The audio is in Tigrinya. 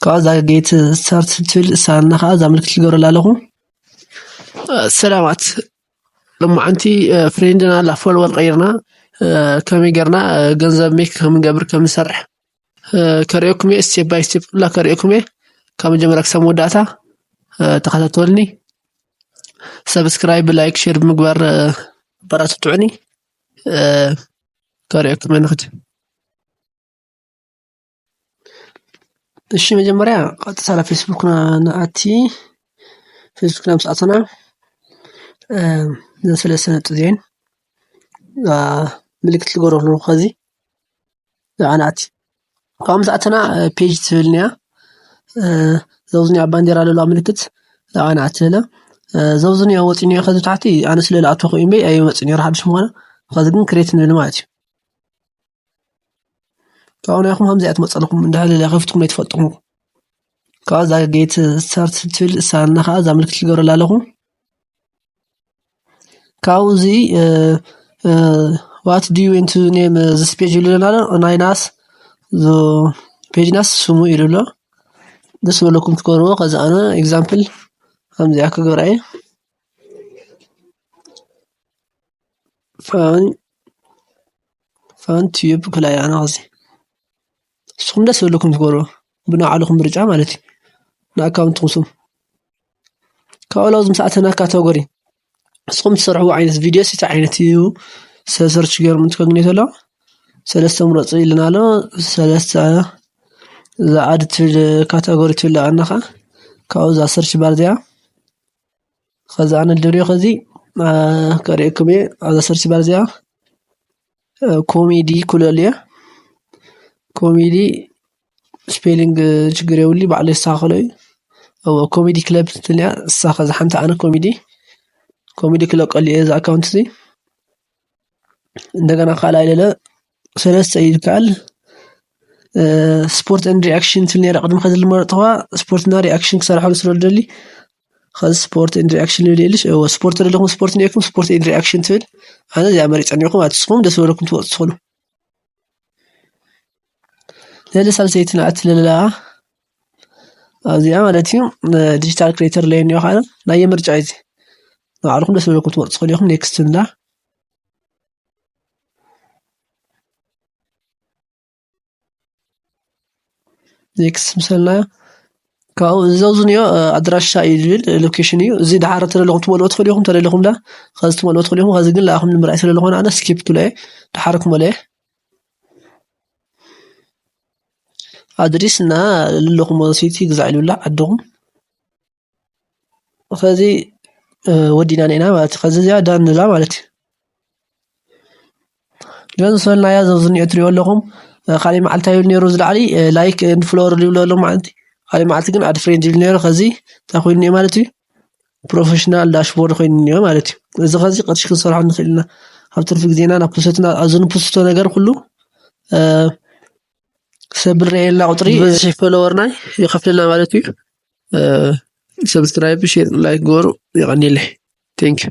ካብኡ እዛ ጌት ስታርት ትብል እሳና ከኣ እዛ ምልክት ክገብረላ ኣለኹ ሰላማት ሎማዓንቲ ፍሬንድና ኣላ ፎሎወር ቀይርና ከመይ ጌርና ገንዘብ ሜክ ከምንገብር ከምንሰርሕ ከርእየኩም እየ ስቴፕ ባይ ስቴፕ ኩላ ከርእየኩም እየ ካብ መጀመርያ ክሳብ መወዳእታ ተኸታተልኒ ሰብስክራይብ ላይክ ሼር ብምግባር ኣበራትትዑኒ ከርእየኩም እየ ንኽድ እሺ መጀመሪያ ቀጥታ ናብ ፌስቡክ ንኣቲ ፌስቡክ ናብ ሰኣተና ንስለ ስነጥ ዜን ምልክት ልገብሮ ኣለኹ ኸዚ ንዓ ንኣቲ ካብኡ ምስ ኣተና ፔጅ ትብል እኒኣ ዘብዚ እኒኣ ባንዴራ ለለዋ ምልክት ንዓ ንኣቲ ንብላ ዘብዚ እኒኣ ወጺኡ እኒኦ ኸዚ ታሕቲ ኣነ ስለ ልኣተኹ ኢዩ እምበይ ኣይመጽእን ኔሩ ሓድሽ ምዃኑ ኸዚ ግን ክሬት ንብል ማለት እዩ። ካብኡ ንዒኹም ከምዚኣ ትመጸልኩም እንድሕር ኢለ ከፊትኩም ኣይትፈልጡን እኹም። ካብኡ እዛ ጌት ስታርት ትብል እሳ እና ከኣ እዛ ምልክት ትገብረላ ኣለኹ። ካብኡ እዚ ዋት ዱ ዩ ዌንት ኔም ዝስ ፔጅ ይብሉ ኣለና ናይ ናስ ዞ ፔጅ ናስ ስሙ ይብሉ ኣሎ። ደስ ዝበለኩም ትገብርዎ ከዚ ኣነ ኤግዛምፕል ከምዚኣ ክገብራ እየ። ፋን ፋን ትዩብ ብፍላይ ኣነ ኸዚ ንስኹም ደስ ዝብለኩም ትገብሩ ብናይ ባዕልኹም ምርጫ ማለት እዩ ንኣካውንትኹም ስም ካብኡ ላው ዝምስኣ እተን ካታጎሪ ንስኹም ትሰርሕዎ ዓይነት ቪድዮስ እንታይ ዓይነት እዩ ሰብ ሰርች ገይሮም እንትከግኒ ተሎ ሰለስተ ምረፁ ኢልና ኣሎ ሰለስተ እዛ ኣድ ትብል ካታጎሪ ትብል ኣላ ከዓ ካብኡ እዛ ሰርች ባር እዚኣ ከዛ ኣነ ልደልዮ ከዚ ከርእየኩም እየ ኣብዛ ሰርች ባር እዚኣ ኮሜዲ ኩለሉ እየ ኮሜዲ ስፔሊንግ ችግር የብሉ ባዕሉ የስተካክሎ እዩ እዎ ኮሜዲ ክለብ ትብል እያ ንሳ ከዛ ሓንቲ ኣነ ኮሜዲ ኮሜዲ ክለቀሉ እየ እዚ ኣካውንት እዚ እንደገና ካልኣይ ለለ ሰለስተ እዩ ዝከኣል። ስፖርት ኤንድ ሪኣክሽን ትብል ነይራ ቅድም ኸዚ ዝመረጽኽዋ ስፖርት እና ሪኣክሽን ክሰርሓሉ ስለ ዝደሊ ኸዚ ስፖርት ኤንድ ሪኣክሽን ልብል የልሽ እወ ስፖርት ዘለኹም ስፖርት እኒኤኩም ስፖርት ኤንድ ሪኣክሽን ትብል ኣነ እዚኣ መሪጸ እኒኦኹ ማለት እዩ። ንስኹም ደስ ዝበለኩም ትመርጹ ትኾኑ። ለለ ሳልሰይቲ ናት ለለኣ ኣብዚኣ ማለት እዩ ዲጂታል ክሬተር ለይ እኒኦ ኸዓ ናየ ምርጫ እዩ እዚ ንባዕልኹም ደስ ዝበለኩም ክትመርፁ ትኽእሉ ኢኹም ኔክስት ንብላ። ኔክስት ምስ በልናዮ ካብኡ እዚ ኣብዚ እኒኦ ኣድራሻ እዩ ዝብል ሎኬሽን እዩ እዚ ደሓር ተለለኹም ክትመልኡ ትኽእሉ ኢኹም ተለሊኹም ኸዚ ክትመልኡ ትኽእሉ ኢኹም ኸዚ ግን ንዓኹም ንምርኣይ ስለዝኾነ ኣነ ስኪፕ ክብሎ እየ ደሓር ክመልኦ እየ። ኣድሪስ እና ልልኹም ወሲቲ ግዛዕሉላ ዓድኹም ኸዚ ወዲና ነና ማለት ኸዚ እዚኣ ዳንላ ማለት እዩ ለን ዝሰልናያ ዘብዝኒኦ ትሪኦ ኣለኹም ካልይ መዓልታ ይብል ነይሩ ዝለዓሊ ላይክ ንፍሎወር ዝብሉ ኣሎ መዓልቲ ካልይ መዓልቲ ግን ኣድ ፍሬንድ ይብል ነይሩ ኸዚ እንታይ ኮይኑ እኒኦ ማለት እዩ ፕሮፈሽናል ዳሽቦርድ ኮይኑ እኒኦ ማለት እዩ። እዚ ከዚ ቅርሺ ክንሰርሖ ንኽእል ኢና። ኣብ ትርፊ ግዜና ናብ ፕሰትና ኣብዚ ንፕስቶ ነገር ኩሉ ሰብ ንርእየላ ቁፅሪ ብዝሒ ፎሎወርናይ ይኸፍለና ማለት እዩ። ሰብስክራይብ፣ ሼር፣ ላይክ ግበሩ። የቐኒለይ። ቴንኪዩ